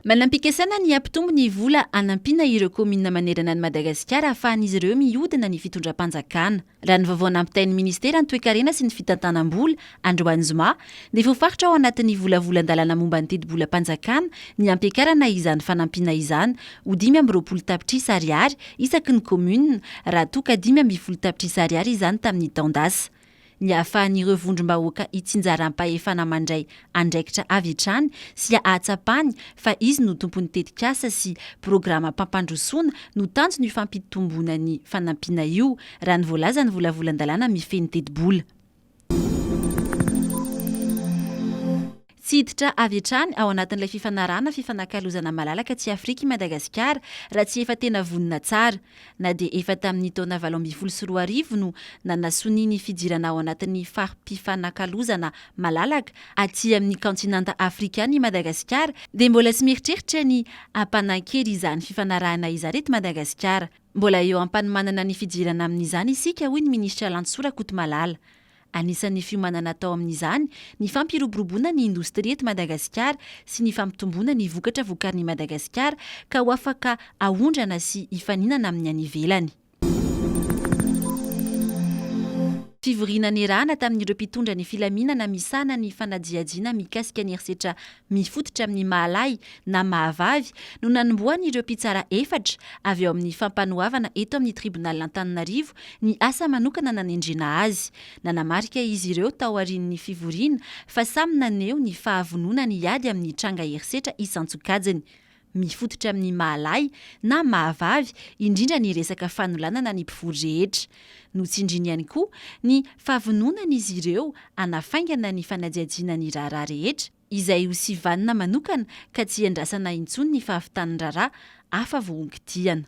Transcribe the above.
Manam-pikasana ny hampitombo ny vola hanampiana ireo kaominina manerana an'i Madagasikara hahafahan'izy ireo mihodina ny fitondram-panjakana. Raha ny vaovao nampitain'ny minisitera ny Toekarena sy ny fitantanam-bola, androany zoma, Dia voafaritra ao anatin'ny volavolan-dalàna momba ny tetibolam-panjakana ny hampiakarana izany fanampiana izany ho dimy amby roapolo tapitrisa ariary isaky ny kaominina raha toa ka dimy ambin'ny folo tapitrisa ariary izany tamin'ny taon-dasa. Ny hahafahan'ireo vondrom-bahoaka hitsinjaram-pahefana mandray andraikitra avy hatrany sy hahatsapany fa izy no tompon'ny tetikasa sy programam-pampandrosoana no tanjon'io fampitomboana ny fanampiana io, raha ny voalazan'ny volavolan-dalàna mifehy ny tetibola. Tsy hiditra avy hatrany ao anatin'ilay fifanarahana fifanakalozana malalaka aty Afrika i Madagasikara raha tsy efa tena vonona tsara. Na dia efa tamin'ny taona valo ambin'ny folo sy roa arivo no nanasonia ny fidirana ao anatin'ny fari-pifanakalozana malalaka aty amin'ny kaontinanta afrikana i Madagasikara dia mbola tsy mieritreritra ny hampanankery izany fifanarahana izany eto Madagasikara. Mbola eo am-panomanana ny fidirana amin'izany isika, hoy ny minisitra Lantsoa Rakotomalala. Anisan'ny fiomanana atao amin'izany ny fampiroboroboana ny indostria eto Madagasikara sy ny fampitomboana ny vokatra vokarin'i Madagasikara ka ho afaka aondrana sy hifaninana amin'ny any ivelany. Fivoriana niarahana tamin'ireo mpitondra ny filaminana misahana ny fanadihadiana mikasika ny herisetra mifototra amin'ny maha-lahy na maha-vavy no nanombohan'ireo mpitsara efatra avy ao amin'ny Fampanoavana eto amin'ny Tribonalin'Antananarivo ny asa manokana nanendrena azy. Nanamarika izy ireo taorian'ny fivoriana fa samy naneho ny fahavononany hiady amin'ny tranga herisetra isan-tsokajiny. Mifototra amin'ny maha-lahy na maha-vavy indrindra ny resaka fanolanana ny mpivory rehetra. Notsindriany ihany koa ny fahavononan'izy ireo hanafaingana ny fanajiajiana ny raharaha rehetra, izay ho sivanina manokana ka tsy hiandrasana intsony ny fahavitan'ny raharaha hafa vohonkidihana.